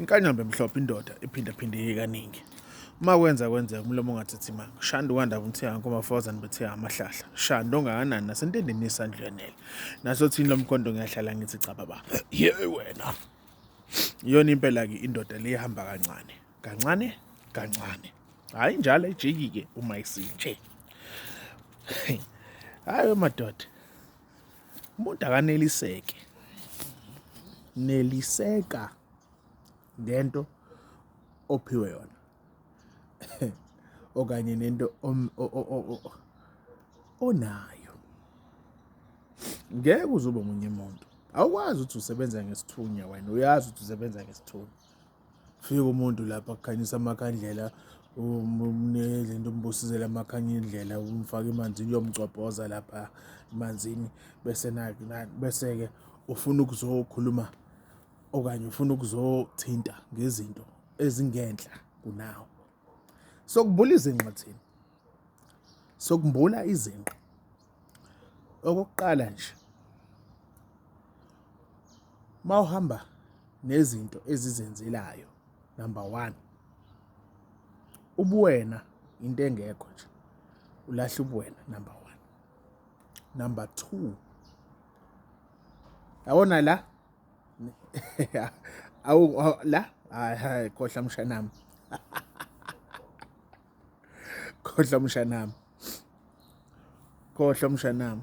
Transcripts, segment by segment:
Inkanyamba emhlophe indoda iphindaphindeke kaningi. Uma kwenza kwenzeka umlomo ungathethi imanga. Shanda ukwandaba umthiyanga komafozane bethiya amahlahla. Shanda ongakanani nasentendeni yesandlwenele. Nasothini lomkhonto ngiyahlala ngithi cha baba. Ye wena. Iyona impela-ke indoda le ihamba kancane. Kancane, kancane. Hhayi njalo ejiki-ke uma isinje. Hhayi madoda. umuntu akaneliseke neliseka ngento ophiwe yona okanye nento onayo ngeke uzobe omunye umuntu awukwazi ukuthi usebenza ngesithunywa wena uyazi ukuthi usebenza ngesithunywa Fika umuntu lapha kukhanyisa amakhandlela umnezinto umbusizela amakhanya indlela umfake emanzini uyomgcobhoza lapha emanzini bese bese-ke ufuna ukuzokhuluma okanye ufuna ukuzothinta ngezinto ezingenhla kunawo sokubula izinqa thina sokumbula izinqa Okokuqala nje uma uhamba nezinto ezizenzelayo, number one, ubuwena into engekho nje, ulahla ubuwena number one. Number two, yabona la awu la, hhayi hhayi khohlwa mshanami. khohlwa mshanami khohlwa mshanami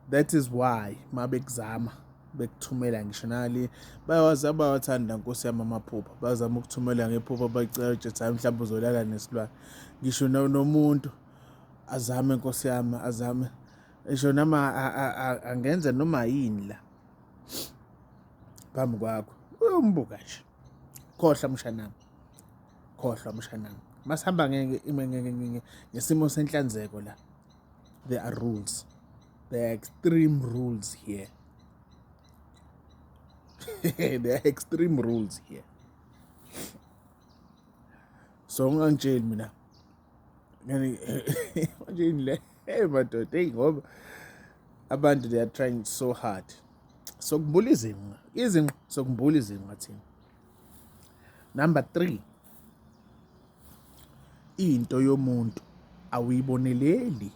that is why mabekuzama bekuthumela ngisho nali bayawazi abawathanda nkosi yami amaphupha bazama ukuthumela ngephupha bacela ukuthi hayi mhlawumbe uzolala nesilwane ngisho nomuntu azame nkosi yami azame ngisho nama angenza noma yini la phambi kwakho uyombuka nje khohlwa mshanami khohlwa mshanami masihamba ngesimo senhlanzeko la there are rules there are extreme rules here there are extreme rules here so ungangitsheli mina ngani manje le hey madoda hey ngoba abantu they are trying so hard sokumbula izinqa izinqa sokumbula izinqa thina number 3 into yomuntu awuyiboneleli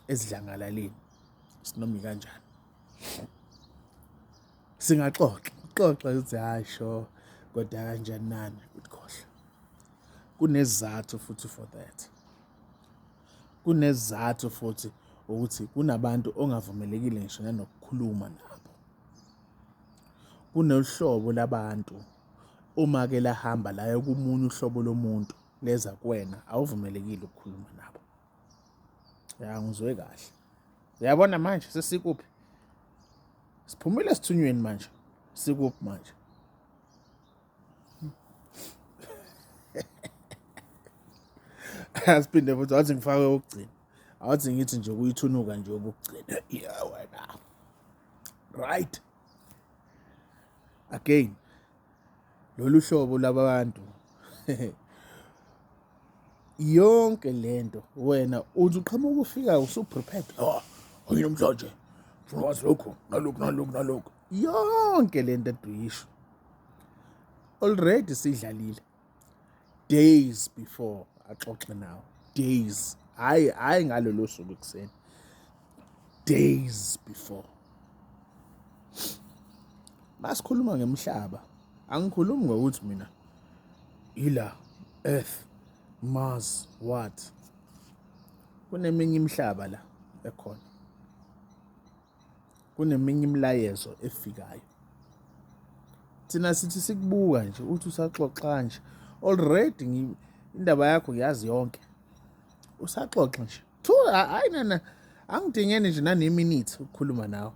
esidlangalaleni sinomi kanjani singaxoxa xoxa ukuthi hayi sho kodwa kanjani nani ukukhohlwa kunezathu futhi for that Kunesizathu futhi ukuthi kunabantu ongavumelekile ngisho nanokukhuluma nabo. Kunolu hlobo labantu uma-ke lahamba laya komunye uhlobo lomuntu leza kuwena awuvumelekile ukukhuluma nabo. Ya ngizwe kahle. Uyabona manje sesikuphi? Siphumile esithunyweni manje. Sikuphi manje? asiphinde futhi wathi ngifake okugcina awathi ngithi nje kuyithunuka nje okugcina ya wena right again lolu hlobo labantu yonke lento wena uthi uqhamuka ufika usuprepared oh nginomhlanje ngifuna wazi lokhu nalokhu nalokhu nalokhu yonke lento eduyisho already sidlalile days before axoxe nawo days hayi hayi ngalolo suku ekuseni days before masikhuluma ngemhlaba angikhulumi ngokuthi mina ila earth mars what kuneminye imihlaba la ekhona kuneminye imilayezo efikayo thina sithi sikubuka nje uthi usaxoxa nje already indaba yakho ngiyazi yonke usaxoxa nje thu hayi nana angidingeni nje naneminute ukukhuluma nawe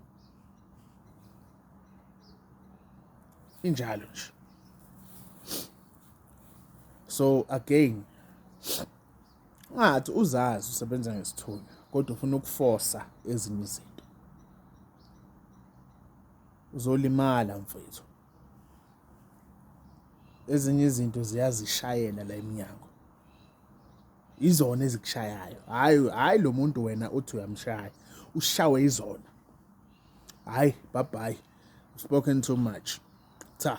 injalo nje so again Ungathi uzazi usebenza ngesithunywa kodwa ufuna ukufosa ezinye izinto. Uzolimala mfethu. Ezinye izinto ziyazishayela la emnyango. Izona ezikushayayo. Hayi hayi lo muntu wena uthi uyamshaya. Ushawe izona. Hayi bye bye. Spoken too much. Cha.